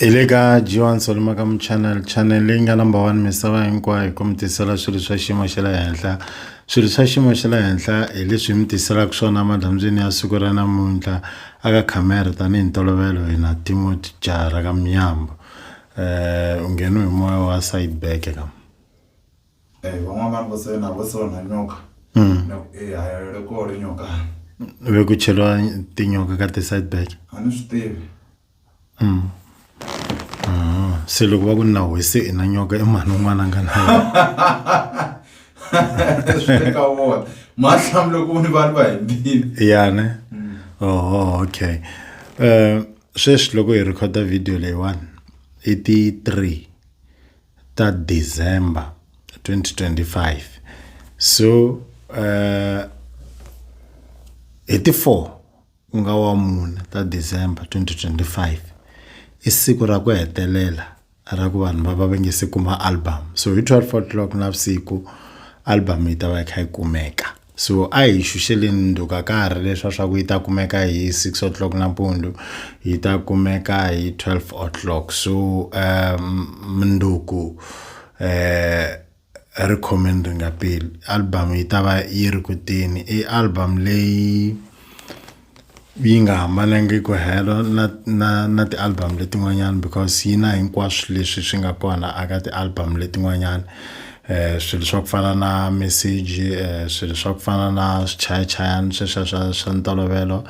hi le ka G1 Solima ka Channel channel leyi nga number one misava hinkwayo ku mi tisela swilo swa xiyimo xa le henhla swilo swa xiyimo xa le henhla hi leswi mi tiselaka swona madyambyini ya siku ra namuntlha aka khamera tanihi ntolovelo hina Timothy Jara ka Mnyambo eh u ngheniwe hi moya wa side back ka Eh, van'wana vanhu vo sena vo sona nyoka na ku eh hayalele ko ri nyoka ve ku cheliwa tinyoka ka ti side back a ni swi tivi Mm. Ah, se loko va ku na wese i na nyoka i mhani un'wana a nga na sweka wona mahlamu loko voni vanhu va hembile ya ne mm. oho okay um sweswi loko hi rhekhoda video leyiwani i ti three ta december 2025 so um hi ti four ku nga wa mune ta December 2025 i siku ra ku hetelela ra ku vanhu va va va nge se kuma album so hi 12 o'clock navusiku album yi ta va yi kha yi kumeka so a hi xuxeleni ndzhuka ka ha ri leswa swa ku yi ta kumeka hi 6 o'clock nampundzu yi ta kumeka hi 12 o'clock so um mundzuku um Ri khome ni ri nga peli album yi ta va yi ri kuteni i album leyi yi nga hambanangiki helo na na na ti-album letin'wanyani because yi na hinkwaswo leswi swi nga kona a ka ti-album letin'wanyani swilo swa ku fana na meseji swilo swa ku fana na swichayachayani sweswiya swa swa ntolovelo.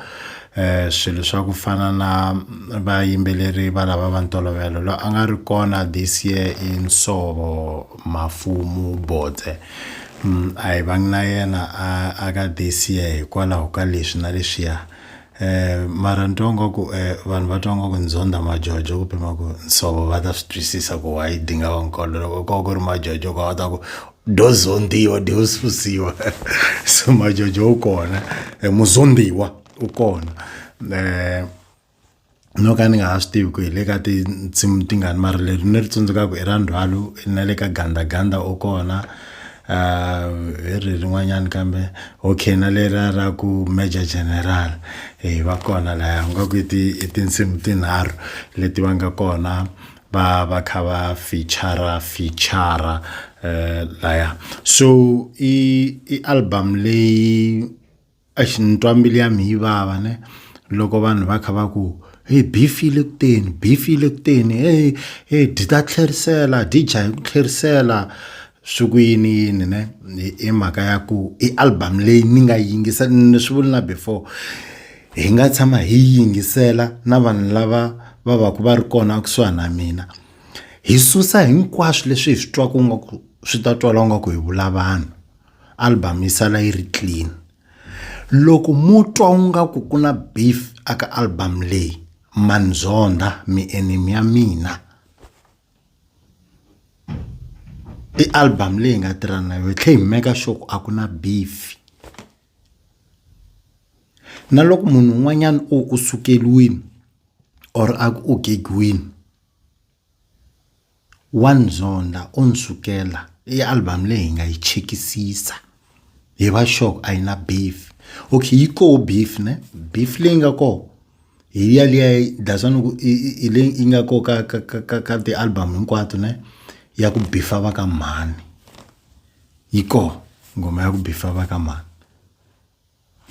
eh swilo swa ku fana na vayimbeleri va lava va ntolovelo loyi a nga ri kona this year i Nsovo Mafumu Bodze mm, a hi vangi na yena a a ka this year hikwalaho ka leswi na leswiya eh mara ni twa ngaku eh vanhu va twa ngaku ni zondha majojo ku pima ku Nsovo va ta swi twisisa ku why dinga va nkolo loko ko va ku ri majojo ko a wu ta ku do zondiwa do susiwa so majojo u kona eh, muzondiwa u kona eh, no ka ni nga ha swi tivi ku hi le ka tinsimu tingani mara leri ni ri tsundzukaka i ra ndzhwalo na le ka gandaganda u kona um hi ri rin'wanyana kambe okay na leriya ra ku major general e va kona laya nga ku i tinsimu tinharhu leti va nga kona va va kha va feature feature eh laya so i i album leyi a xi ni twa mbilu ya mi yi vava ne loko vanhu va kha va ku hi bifile kuteni bifile kuteni hey hey dyi ta tlherisela dyi dya hi ku tlherisela swi ku yini yini ne i mhaka ya ku i album leyi ni nga yingisa ni swi vuli na before hi nga tshama hi yingisela na vanhu lava va va ku va ri kona kusuhani na mina hi susa hinkwaswo leswi hi swi twaka nga ku swi ta twala nga ku hi vula vanhu album yi sala yi ri clean loko mo twa u nga ku ku na beef aka album leyi manzondha mi enemy ya mina. i album leyi nga tirhana na yo hi tlhela hi make sure ku a ku na beef na loko munhu un'wanyana o u sukeriwile or a ku u gegiwile wa ni zondha o ni sukela i album leyi hi nga yi chekisisa. hi va sure a yi na beef okay yi koho beef ne beef leyi nga koho hi ya liya dasani ku hi leyi yi nga koho ka ka ka ka ka ti-album hinkwato ne ya ku bifa va ka mhani yi koho nghoma ya ku bifa va ka mhani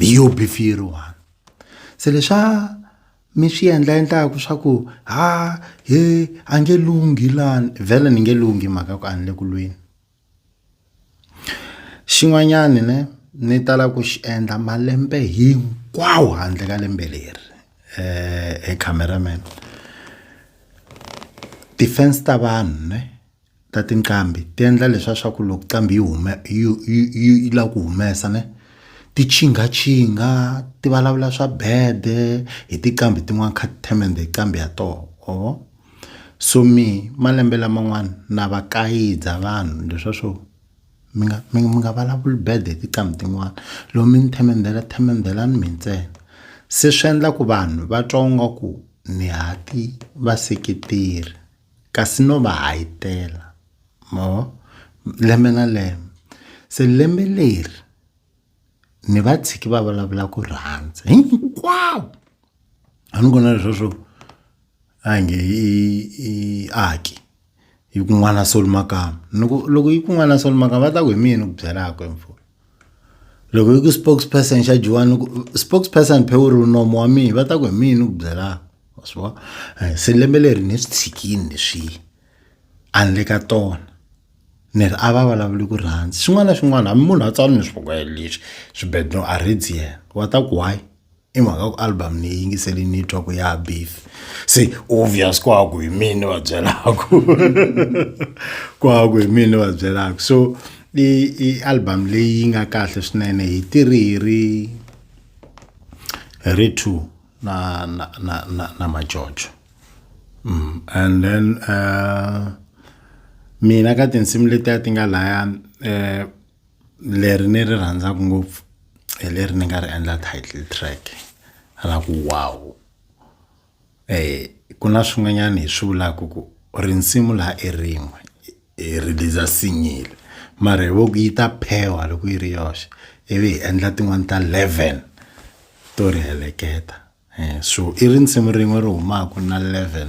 hi yo beef yi ri one se leswa mi swi endla endlaku swa ku ha he a nge lunghi lani vhele ni nge lunghi mhaka ku a ni le ku lweni. Xin'wanyana ne ni tala ku xi endla malembe hinkwawo handle ka lembe leri he camera man ti-fans ta vanhu ne ta tinqambi ti endla leswa swa ku loko nqambi yi huma yi yi yi yi lava ku humesa ne ti qhingaçhinga ti vulavula swa bad-e hi tinqambi tin'wani kha ti themendhe nqambi ya tona or. so mehe malembe laman'wana na va kayidza vanhu leswa swo mi nga mi mi nga vulavuli bad hi tinqambi tin'wana loko mi ni themendela themendelani mi ntsena se swi endla ku vanhu va twa nga ku ni ha ti vaseketeri kasi no va hahitela ma vo lembe na lembe se lembe leri ni va tshiki va vulavula ku rhandza hinkwavo a ni vona lesweswo a hi nge i i aki yi ku n'wana soli makamba ni ku loko yi ku n'wana soli makamba va ta ku hi mini ku byelaka hi mpfula loko yi ku spokes person xa dyiwani ku spokes person phe wu ri nomo wa mina va ta ku hi mini ku byelaka wa swi vona se lembe leri ni swi tshikini leswiya a ni le ka tona. ni ri a va vulavuli ku rhandzi xin'wana na xin'wana hambi munhu a tsala ni swibuko leswi swibedhlele a rhandzi yena wa ta ku why i mhaka ku album ni yingiseli ni twa ku ya beef se obvious ku haku hi mina ni va byelaku ku haku hi mina ni va byelaku so i i album leyi nga kahle swinene hi tirhi hi ri hi ri two na na na, na, na majojo mm. and then uh, mina ka tinsimu letiya ti nga laya um eh, leri ni ri rhandzaka ngopfu hi leri ni nga ri endla title track ra ku wow um ku na swin'wanyana hi swi vulaka ku rinsimu laha i rin'we hi release single mara hi voku yi ta phewa loko yi ri yoxe ivi hi endla tin'wani ta 11 to ri heleketa um so i ri nsimu rin'we ri humaka na 11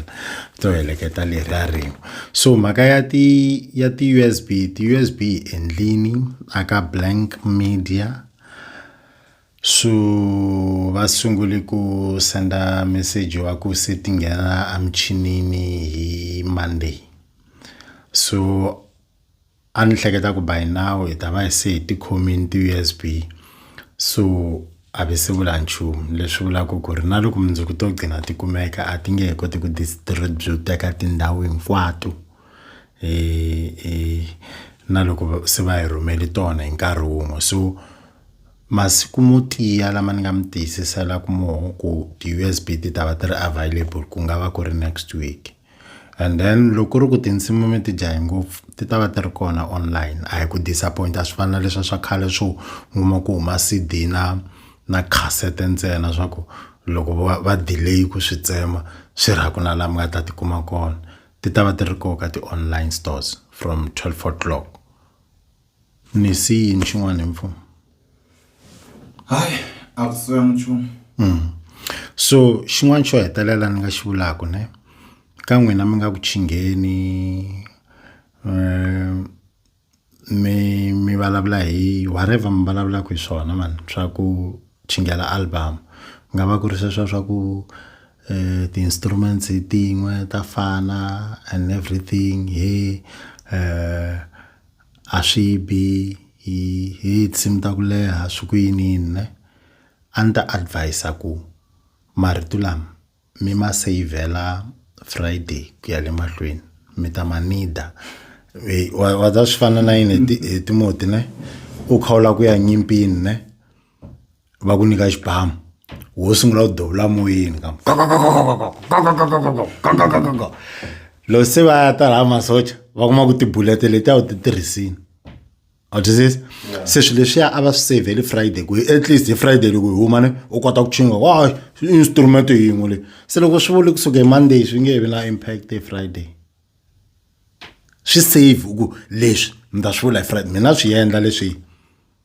to heleketa leriya rin'we so mhaka ya ti ya ti-usb ti-usb hi endlini aka blank media so va sungule ku senda meseji wa ku se ti nghena emuchinini hi monday so a ni hleketa ku by now hi ta va hi se hi tikhomini ti-usb so a ve se vula nchumu leswi vulaka ku ri na loko mundzuku to gcina ti kumeka a ti nge he koti ku distribut-eka tindhawu hinkwato na loko se va hi rhumele tona hi nkarhi wun'we so. masiku mo tiya lama ni nga mi tiyisiselaku moho ku ti-U_S_B ti ta va ti ri available ku nga va ku ri next week and then loko ku ri ku tinsimu mi ti jahe ngopfu ti ta va ti ri kona online a hi ku disappoint-a a swi fani na leswiya swa khale swo mi kuma ku huma C_D na na khansete ntsena swa ku loko vo va va delay ku swi tsema swi ri a ku na la mi nga ta ti kuma kona ti ta va ti ri ko ka ti-online stores from twelve o'clock. ni si yini xin'wana hi mfumo hayi a ku siya nchumu mm. so xin'wana xo hetelela ni nga xi vulaka ne ka n'wina mi nga ku chingheni um mi mi vulavula hi whatever mi vulavulaka hi swona mani swa ku chingela album ku nga va ku ri sweswo swa ku um ti-instruments hi tin'we ta fana and everything he um a swi bi hi hi tinsimu ta ku leha swi ku yiniyini ne a ni ta advis-a ku marito lama mi ma seyivhela Friday ku ya le mahlweni mi ta ma need-a wa wa swi fana na yini hi hi Timoti ne u kha u lava ku ya nyimpini ne. va ku nyika xibamu wo sungula ku dovula moyeni ka loko se va ya ta laha masocha va kuma ku tibulete leti a wu ti tirhisini a twisisa se swilo leswiya a va swi savheli friday ku at least hi friday loko hi huma ni u kota ku chinga wa instrument yin'we leyi se loko swi vuli kusuka hi monday swi nge vi na impact hi friday swi save ku leswi mi ta swi vula hi friday mina swi endla leswi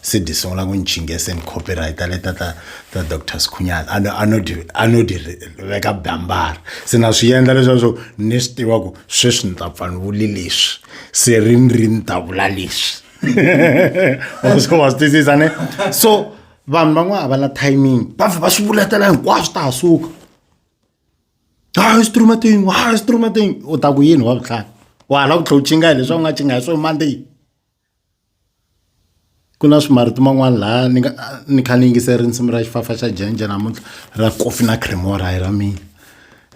se di sungula ku ni chingese ni copyrighta le ta ta ta doctor sikhunyana a no a no di a no di ri- veka bambara se na swi endla leswaku swo ni swi tiva ku sweswi ni ta pfa ni vuli leswi se ri ni ri ni ta vula leswi wa swi wa swi twisisa ne so vanhu van'wana a va na timing va vhe va swi vuletela hinkwaswo ta ha suka hayi swi tirhuma tingo hayi swi tirhuma tingo u ta ku yini wa vutlhari wa hala ku tlhe u chinga hi leswi a wu nga chinga hi swo mandeyi Ku na swi marito man'wani laha ni nga ni kha ni yingisela risimu ra xifafa xa Jendje namuntlha ra Kofi na Cremora hi ra mina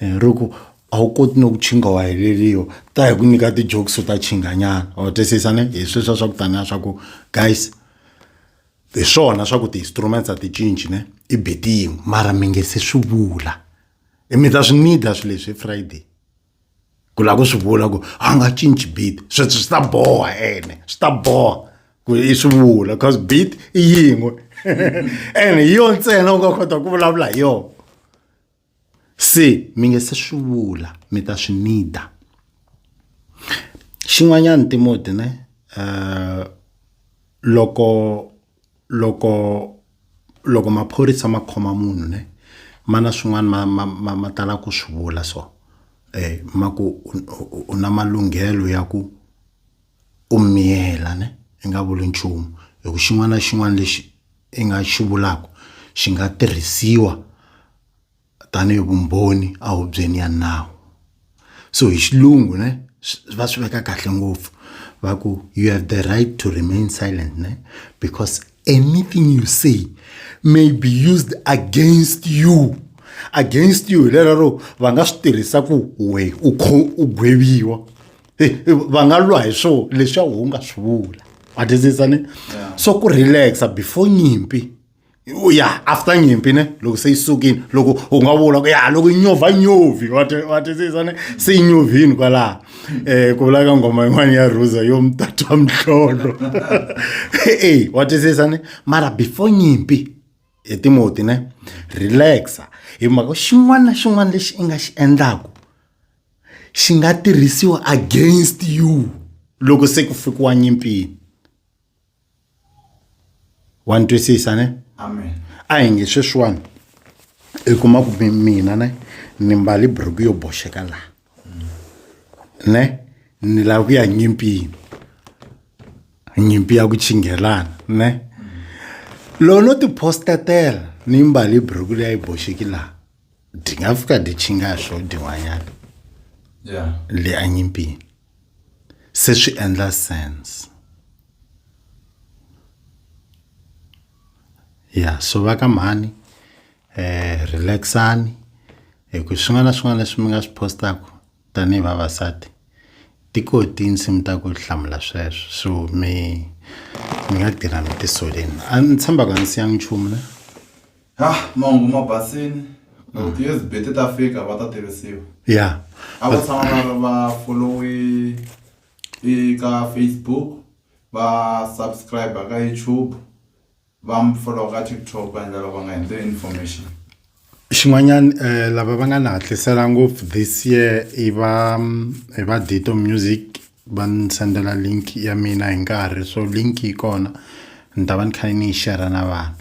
ri ku a wu koti no ntshunga wa heleriwa ta hi ku nyika ti jokes ta ntshunga nyana wa twisisa ne hi sweswiya swa ku taniya swa ku guys hi swona swa ku ti instruments a ti cinci ne i beat yin'we mara mi nge se swi vula mi ta swi need swilo leswi hi Friday. ku lava ku swi vula ku a nga cinci beat sweswi swi ta boha ene swi ta boha ku i swi vula cause beat i yin'we ene hi yona ntsena u nga kota ku vulavula hi yona se mi nge se swi vula mi ta swi nida xin'wanyana timoti ne um loko loko loko maphorisa ma khoma munhu ne ma na swin'wana ma ma ma ma tala ku swi vula so eh ma ku u na malunghelo ya ku u miyela ne i nga vuli nchumu hi ku xin'wana na xin'wana lexi i nga xi vulaka xi nga tirhisiwa. tanihi vumbhoni a hubyeni ya nawu so hi xilungu ne va swi veka kahle ngopfu va ku you have the right to remain silent ne because anything you say may be used against you against you hi lera ro va nga swi tirhisa ku we u u gweviwa va nga lwa hi swo leswi a wu nga swi vula a twisisa ni so ku relaxa before nyimpi u ya after nyimpi ne loko se yi sukile loko u nga vula ku ya loko yi nyovha nyovhi wa twisisa ne se yi nyovhini kwalaha um ku vulaka nghoma yin'wana ya ruza yo mtatwa mhlolo e wa twisisa ne mara before nyimpi hi timoti ne relaxa hi mhaka xin'wana na xin'wana lexi i nga xi endlaku xi nga tirhisiwa against you loko se ku fikiwa nyimpini wa ni twisisa ne amen a hi nge sweswiwani i kuma ku mi- mina ne ni mbali buruku yo boxeka laha ne ni lava ku ya nyimpini nyimpi ya ku chingelana ne loko no tipostatela ni mbali buruku leyi a yi boxeki laha di nga fika di chinga swo din'wanyana ya le a nyimpini se swi endla sense ya so va ka mhani eh relax-ani hi ku swin'wana na swin'wana leswi mi nga swi post-aku tanihi vavasati ti ko tinsimu ta ku hlamula sweswo so mi mi nga tirha mi tisoleni a ni tshemba ku a ni siyanga nchumu na Ha, mahungu ma basile. Loko ti-USB ti ta fika va ta tivisiwa. ya A va tshama va ri va followe eka Facebook, va subscribe ka YouTube, va mi follow ka TikTok va endlela va nga hindzi information. xin'wanyana eh, lava va nga ni hatlisela ngopfu this year i va mm, i va dito music va ni sendela link ya mina hi nkarhi so link yi kona ni ta va ni kha ni yi share na vanhu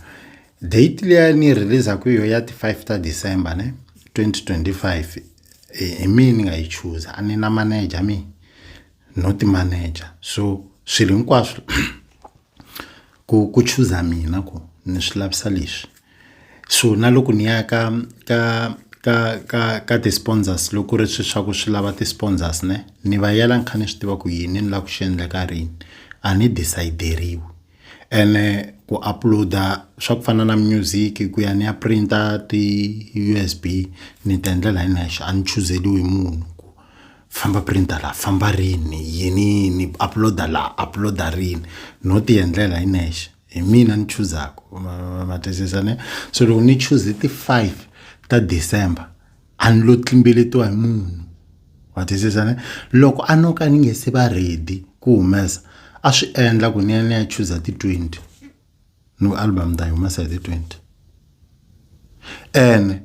Date leyi ni release ku yo ya ti 5 ta December ne 2025 hi mina ni nga yi choose a ni na manager mi no ti manager so swilo hinkwaswo ku ku choose mina ku ni swi lavisa leswi so na loko ni ya ka ka ka ka ka ti sponsors loko ri swi swa ku swi lava ti sponsors ne ni va yela ni kha ni swi tiva ku yini ni lava ku xi endla ka rini a ni decide-eriwi. ene ku upload-a swa ku fana na music ku ya ni ya print-a ti-U_S_B ni ti endlela hi nexe a ni chuzeriwi hi munhu ku famba print-a la famba rini yini yini upload-a la upload-a rini no ti endlela hi nexe hi mina ni chuzaka ma ma ma twisisa ne so loko ni chuze ti-five ta December. a ni lo tlimbeletiwa hi munhu wa twisisa ne loko a no ka ni nge se va ready ku humesa a swi endla ku ni ya ni ya chuza ti-twenty ni ku album ta yi humesa hi ti-twenty ene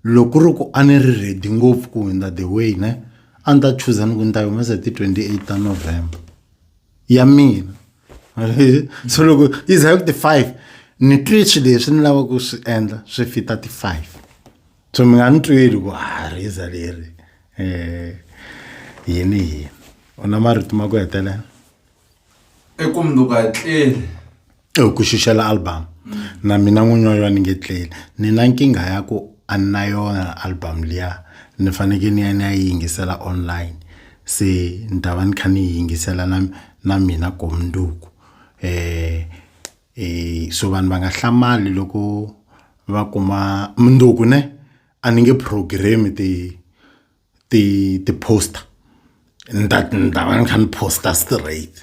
loko ri ku a ni ri ready ngopfu ku hundza the way ne a ni ta chuza ni ku ni ta yi humesa hi ti-twenty-eight ta november ya mina so loko yi za hi ku ti-five ni twe swi leswi ni lavaka ku swi endla swi fita ti-five so mi nga ni tweli ku ha rhiza leri um yini yini u na marito ma ku hetelela i ku munduku a tleli e ku xixela album na mina n'winyi wa yona ni nge tleli ni na nkingha ya ku a ni na yona album liya ni fanekele ni ya ni ya yi yingisela online se ni ta va ni kha ni yi yingisela na na mina gomundzuku um so vanhu va nga hlamali loko va kuma mundzuku ne a ni nge program ti ti ti poster ni ta ni ta va ni kha ni poster straight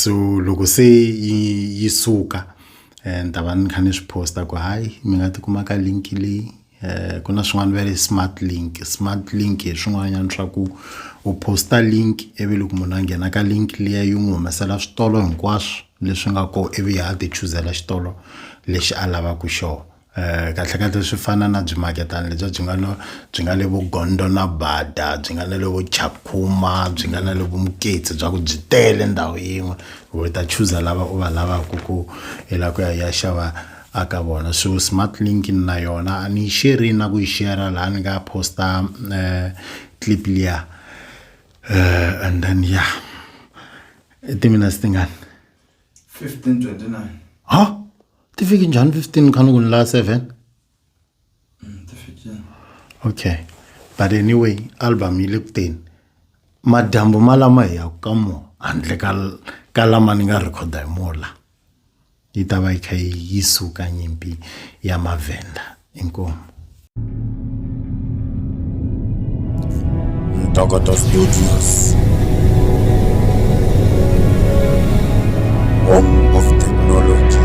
so loko se yi yi suka ni ta va ni kha ni swi poster ku hayi mi nga tikuma ka link leyi. eh, ku na swin'wana va ri smart link smart link hi swin'wanyana swa ku u posta link ivi loko munhu a nghena ka link liya yi n'wi humesela switolo hinkwaswo leswi nga ko ivi ya ti chuzela xitolo lexi a lavaka xona Eh, kahle kahle swi fana na byi maketana lebyi byi nga no byi nga le vo gondo na bada byi nga na le vo chakhuma byi nga na le vo muketsi bya ku byi tele ndhawu yin'we u ta chuza lava u va lavaka ku i lava ku ya ya xava a ka vona so smart link ni na yona a ni yi sheri na ku yi shera laha ni nga posta um clip liya um and then ya i timinutes tingani 1529 ha ti fiki njhani 15 kha ni ku ni laha 7 ti fikile okay but anyway album yi le ku teni madyambu ma lama hi yaku ka mo handle ka ka lama ni nga rhekhoda hi mola yi ta va yi kha yi suka nyimpi ya mavhenda inkomo ntokoto studios home of technology